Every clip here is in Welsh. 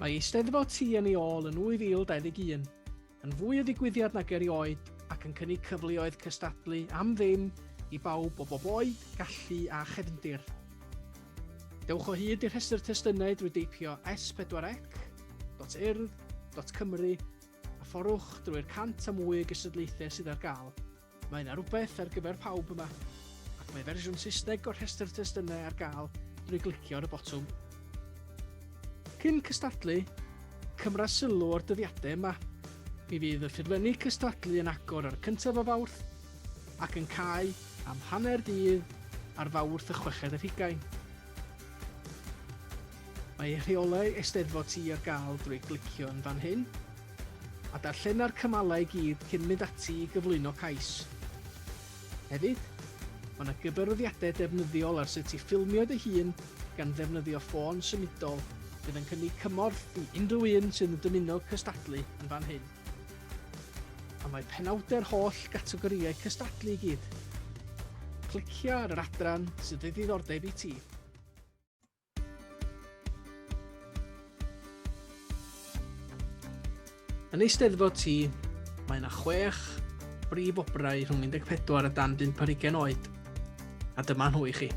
Mae Eisteddfod Ti yn ei ôl yn 2021, yn fwy o ddigwyddiad nag erioed ac yn cynnig cyfleoedd cystadlu am ddim i bawb o bob oed, gallu a chefndir. Dewch o hyd i'r rhestr testunau drwy deipio s4c.urdd.cymru a fforwch drwy'r cant a mwy o gystadlaethau sydd ar gael. Mae yna rywbeth ar gyfer pawb yma, ac mae fersiwn Saesneg o'r rhestr testunau ar gael drwy glicio ar y botwm. Cyn cystadlu, cymra sylw o'r dyddiadau yma. Mi fydd y ffurflenni cystadlu yn agor ar y cyntaf o Fawrth ac yn cau am hanner dydd ar Fawrth y chweched ar hugain. Mae rheolau Eisteddfod Ti ar gael drwy glicio yn fan hyn, a darllena'r cymalau i gyd cyn mynd ati i gyflwyno cais. Hefyd, mae yna gyfarwyddiadau defnyddiol ar sut i ffilmio dy hun gan ddefnyddio ffôn symudol fydd yn cynnig cymorth i unrhyw un sydd yn dymuno cystadlu yn fan hyn. A mae penawdau'r holl gategorïau cystadlu i gyd. Clicia ar yr adran sydd o ddiddordeb i ti. Yn Eisteddfod T, mae yna chwech brif obrau rhwng 14 a dan 5 ar 20 oed, a dyma nhw i chi.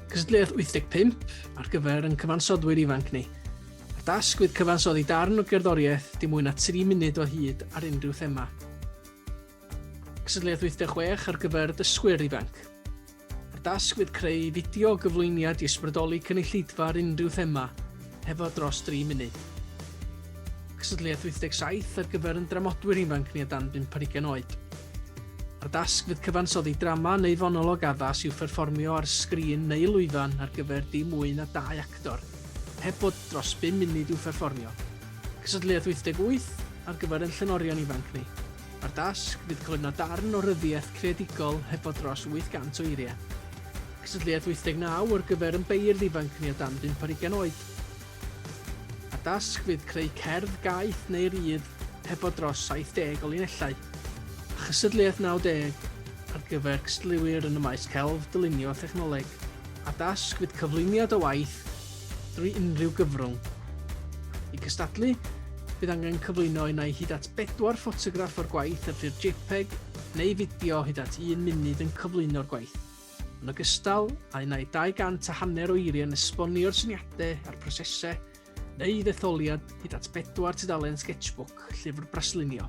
Cystadleuaeth 85 ar gyfer yn cyfansoddwyr ifanc ni. A'r dasg fydd cyfansoddi darn o gerddoriaeth dim mwy na 3 munud o hyd ar unrhyw thema. Cystadleuaeth 86 ar gyfer dysgwyr ifanc. Mae'r dasg fydd creu fideo gyflwyniad i ysbrydoli cynulleidfa ar unrhyw thema, hefo dros dri munud. Cystadleuaeth 87 ar gyfer yn dramodwyr ifanc ni o dan bump ar ugain oed. Mae'r dasg fydd cyfansoddi drama neu fonolog addas i'w pherfformio ar sgrin neu lwyfan ar gyfer dim mwy na dau actor, heb bod dros bum munud i'w pherfformio. Cystadleuaeth 88 ar gyfer yn llenorion ifanc ni. Mae'r dasg fydd cyflwyno darn o ryddiaith creadigol hefo dros 800 o eiriau. Cystadleuaeth 89 ar gyfer yn beirdd ifanc ni o dan bump ar ugain oed. Mae'r dasg fydd creu cerdd, gaeth neu rydd hefo dros 70 o linellau. A chystadleuaeth 90 ar gyfer cystadleuwyr yn y maes celf, dylunio a thechnoleg. A'r dasg fydd cyflwyniad o waith drwy unrhyw gyfrwng. I gystadlu, bydd angen cyflwyno unai hyd at bedwar ffotograff o'r gwaith ar ffurf JPEG neu fideo hyd at un munud yn cyflwyno'r gwaith, yn ogystal â unai 200 a hanner o eiriau yn esbonio'r syniadau a'r prosesau, neu ddetholiad hyd at bedwar tudalen Sketchbook, llyfr braslunio.